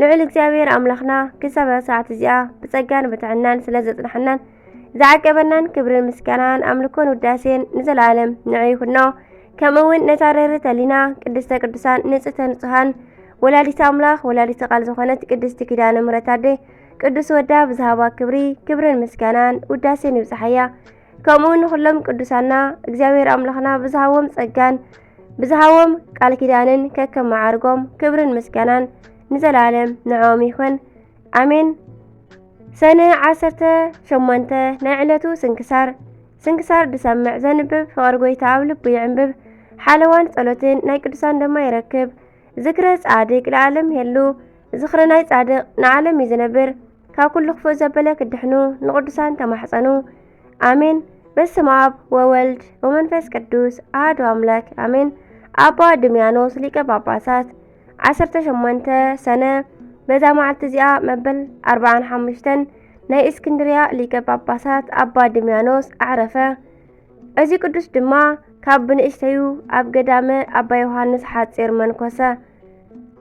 ልዑል እግዚኣብሔር ኣምላኽና ክሳብ ሰዓት እዚኣ ብጸጋን ብትዕናን ስለ ዘጽናሕናን ዝዓቀበናን ክብርን ምስጋናን ኣምልኮን ውዳሴን ንዘለኣለም ንዑ ይኹኖ። ከምኡውን ነታ ርህርት ኣሊና ቅድስተ ቅዱሳን ንጽሕተ ንጹሃን ወላዲት ኣምላኽ ወላዲት ቃል ዝኾነት ቅድስቲ ኪዳነ ምሕረት ኣደ ቅዱስ ወዳ ብዝሃባ ክብሪ ክብርን ምስጋናን ውዳሴን ይብጽሓያ። ከምኡውን ንኹሎም ቅዱሳና እግዚኣብሔር ኣምላኽና ብዝሃቦም ጸጋን ብዝሃቦም ቃል ኪዳንን ከከም መዓርጎም ክብርን ምስጋናን ንዘለኣለም ንዕኦም ይኹን ኣሜን። ሰነ 18 ናይ ዕለቱ ስንክሳር ስንክሳር ድሰምዕ ዘንብብ ፍቕሪ ጎይታ ኣብ ልቡ ይዕንብብ ሓለዋን ጸሎትን ናይ ቅዱሳን ድማ ይረክብ ዝክረ ጻድቅ ንዓለም የሉ ዝክረ ናይ ጻድቅ ንዓለም እዩ ዝነብር ካብ ኩሉ ክፉእ ዘበለ ክድሕኑ ንቕዱሳን ተማሕጸኑ። ኣሜን። በስመ ኣብ ወወልድ ወመንፈስ ቅዱስ ኣህዱ ኣምላክ ኣሜን። ኣባ ድምያኖስ ሊቀ ጳጳሳት 18 ሰነ በዛ መዓልቲ እዚኣ መበል 45 ናይ እስክንድርያ ሊቀ ጳጳሳት ኣባ ድምያኖስ ኣዕረፈ። እዚ ቅዱስ ድማ ካብ ብንእሽተዩ ኣብ ገዳመ ኣባ ዮሃንስ ሓጺር መንኮሰ።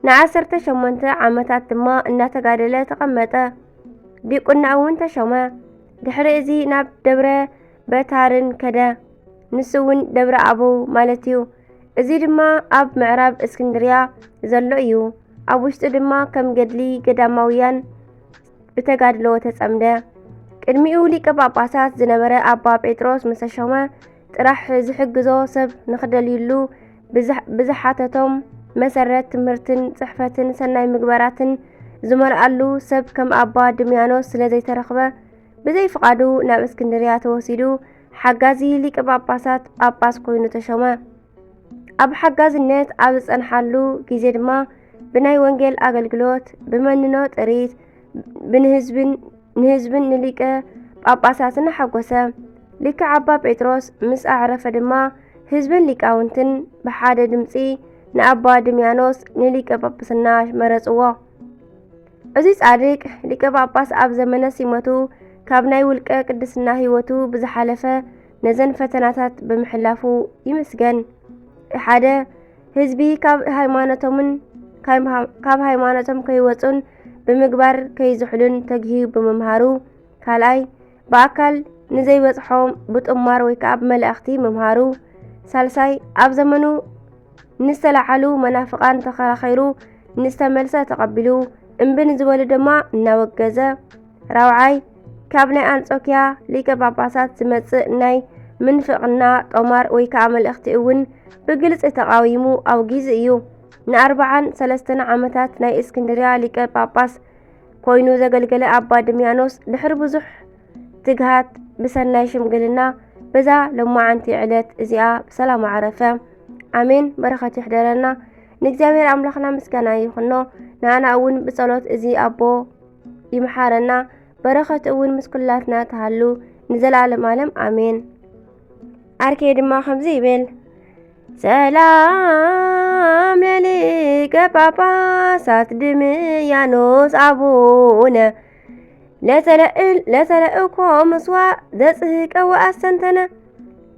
ንዓሰርተ ሸሞንተ ዓመታት ድማ እናተጋደለ ተቐመጠ። ዲቁና እውን ተሾመ። ድሕሪ እዚ ናብ ደብረ በታርን ከደ። ንሱ እውን ደብረ ኣበው ማለት እዩ። እዚ ድማ ኣብ ምዕራብ እስክንድርያ ዘሎ እዩ። ኣብ ውሽጡ ድማ ከም ገድሊ ገዳማውያን ብተጋድሎ ተጸምደ። ቅድሚኡ ሊቀ ጳጳሳት ዝነበረ ኣባ ጴጥሮስ ምስ ተሾመ ጥራሕ ዝሕግዞ ሰብ ንኽደልዩሉ ብዝሓተቶም መሰረት ትምህርትን ጽሕፈትን ሰናይ ምግባራትን ዝመልኣሉ ሰብ ከም ኣባ ድምያኖስ ስለ ዘይተረኽበ ብዘይ ፍቓዱ ናብ እስክንድርያ ተወሲዱ ሓጋዚ ሊቀ ጳጳሳት ጳጳስ ኮይኑ ተሾመ። ኣብ ሓጋዝነት ኣብ ዝጸንሓሉ ግዜ ድማ ብናይ ወንጌል ኣገልግሎት ብመንኖ ጥሪት ብንህዝብን ንህዝብን ንሊቀ ጳጳሳትን ሓጐሰ። ሊክዕ ኣባ ጴጥሮስ ምስ ኣዕረፈ ድማ ህዝብን ሊቃውንትን ብሓደ ድምፂ ንኣባ ድምያኖስ ንሊቀ ጳጳስና መረጽዎ። እዚ ጻድቅ ሊቀ ጳጳስ ኣብ ዘመነ ሲመቱ ካብ ናይ ውልቀ ቅድስና ሕይወቱ ብዝሓለፈ ነዘን ፈተናታት ብምሕላፉ ይምስገን። ሓደ ህዝቢ ካብ ሃይማኖቶምን ካብ ሃይማኖቶም ከይወፁን ብምግባር ከይዝሕሉን ተግሂዩ ብምምሃሩ፣ ካልኣይ ብኣካል ንዘይበፅሖ ብጥማር ወይ ከዓ ብመላእኽቲ ምምሃሩ፣ ሳልሳይ ኣብ ዘመኑ ንዝተላዓሉ መናፍቃን ተኸራኺሩ ንዝተመልሰ ተቐቢሉ እምቢ ንዝበሉ ድማ እናወገዘ ራብዓይ ካብ ናይ ኣንጾኪያ ሊቀ ጳጳሳት ዝመጽእ ናይ ምንፍቕና ጦማር ወይ ከዓ መልእኽቲ እውን ብግልፂ ተቓዊሙ ኣውጊዙ እዩ። ንኣርባዓን ሰለስተን ዓመታት ናይ እስክንድርያ ሊቀ ጳጳስ ኮይኑ ዘገልገለ ኣባ ድምያኖስ ድሕሪ ብዙሕ ትግሃት ብሰናይ ሽምግልና በዛ ሎማዓንቲ ዕለት እዚኣ ብሰላም ዓረፈ። ኣሜን። በረኸት ይሕደረና። ንእግዚኣብሔር ኣምላኽና ምስጋና ይኹኖ። ንኣና እውን ብጸሎት እዚ ኣቦ ይምሓረና በረኸት እውን ምስ ኩላትና ትሃሉ ንዘለኣለም ኣለም ኣሜን። ኣርኬ ድማ ከምዚ ይብል ሰላም ለሊቀ ጳጳሳት ድምያኖስ ኣቡነ ለተለእል ለተለእኮ ምስዋ ዘጽህቀ ወኣስተንተነ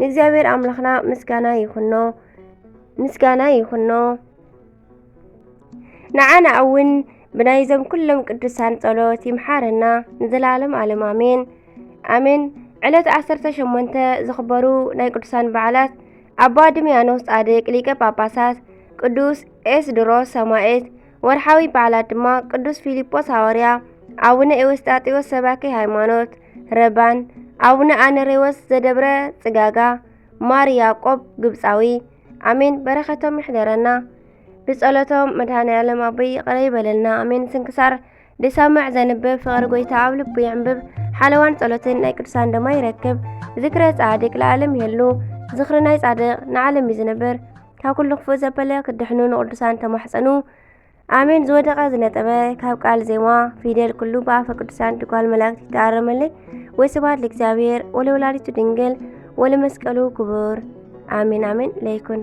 ንእግዚኣብሔር ኣምላኽና ምስጋና ይኹኖ ምስጋና ይኹኖ ንዓና እውን ብናይዞም ኩሎም ቅዱሳን ጸሎት ይምሓረና ንዘለዓለም ኣለም ኣሜን ኣሜን። ዕለት 18 ዝኽበሩ ናይ ቅዱሳን በዓላት ኣባ ድምያኖስ ጻድቅ ሊቀ ጳጳሳት፣ ቅዱስ ኤስድሮስ ሰማኤት። ወርሓዊ በዓላት ድማ ቅዱስ ፊልጶስ ሃዋርያ፣ ኣቡነ ኤዎስጣቴዎስ ሰባኪ ሃይማኖት ረባን፣ ኣቡነ ኣነሬዎስ ዘደብረ ጽጋጋ፣ ማር ያቆብ ግብጻዊ። ኣሜን በረከቶም ይሕደረና ብጸሎቶም መድኃኔዓለም ኣቦይ ይቕረ ይበለልና ኣሜን። ስንክሳር ድሰምዕ ዘንብብ ፍቕሪ ጎይታ ኣብ ልቡ የንብብ ሓለዋን ጸሎትን ናይ ቅዱሳን ደማ ይረክብ። ዝክረ ጻድቅ ለዓለም የሉ ዝክሪ ናይ ጻድቅ ንዓለም እዩ ዝነብር። ካብ ኩሉ ክፉእ ዘበለ ክድሕኑ ንቅዱሳን ተማሕጸኑ። ኣሜን ዝወደቐ ዝነጠበ ካብ ቃል ዜማ ፊደል ኩሉ ብኣፈ ቅዱሳን ድጓል መላእክት ይተኣረመለይ ወይ ስብሐት ለእግዚኣብሔር ወለወላዲቱ ድንግል ወለመስቀሉ ክቡር ኣሜን ኣሜን ለይኩን